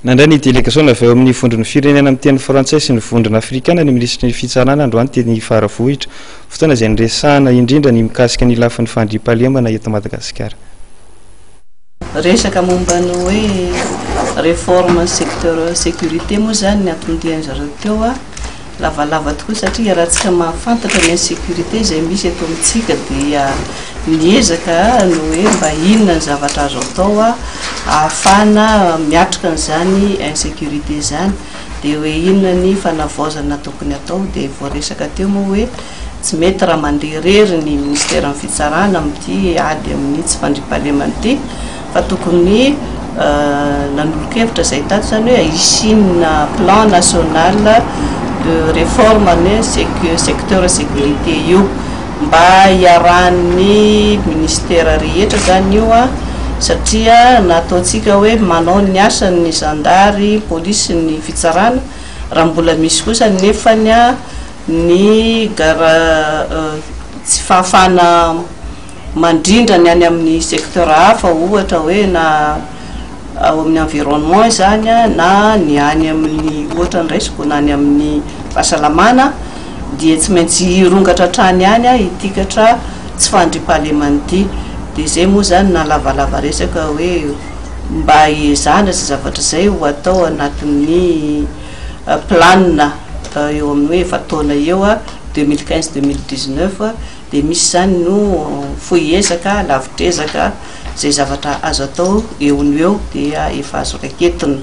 Nandray ny delegasaona avy ao amin'ny Vondron'ny Firenena Miteny Frantsay sy ny Vondrona Afrikana ny Minisitry ny Fitsarana androany teny Faravohitra, fotoana izay niresahana indrindra ny mikasika ny lafiny fandriampahalemana eto Madagasikara. Resaka momba ny hoe réforme secteur sécurité moa izany ny hatondian'izareo teo. lavalava tokoa satria raha tsika mahafantatra ny insécurité izay misy eto amintsika dia miezaka ny hoe mba inona ny zavatra azo atao ahafahana miatrika an'izany insécurité izany dia hoe inona ny fanavaozana tokony atao dia voaresaka teo moa hoe tsy mety raha mandeha irery ny ministeran'ny fitsarana amin'ity ady amin'ny tsy fandriampahalemana ity Fa tokony nanolo-kevitra zay tato zany hoe hisiana plan national de reforme any secteur securite io mba hiarahan'ny ministera rehetra zany io an, satria na ataontsika hoe manao ny asany ny zandary, ny polisy, ny fitsarana raha mbola misy kosa nefany an ny gara tsy fahafahana mandrindra ny any amin'ny secteur hafa ohatra hoe na ao amin'ny environnement izany na ny any amin'ny ohatra ny raisiko na ny amin'ny fahasalamana dia tsy maintsy hirongatra hatrany ihany ity katra tsy fandriampahalemana ity dia izay moa izany na lavalava resaka hoe mba hiezahana izay zavatra izay ho atao anatin'ny plan eo amin'ny hoe efa-taona eo, deux mille quinze, deux mille dix-neuf. Dia misy izany no fohy ezaka, lavitr'ezaka, izay zavatra azo atao eo no eo dia efa azo raiketina.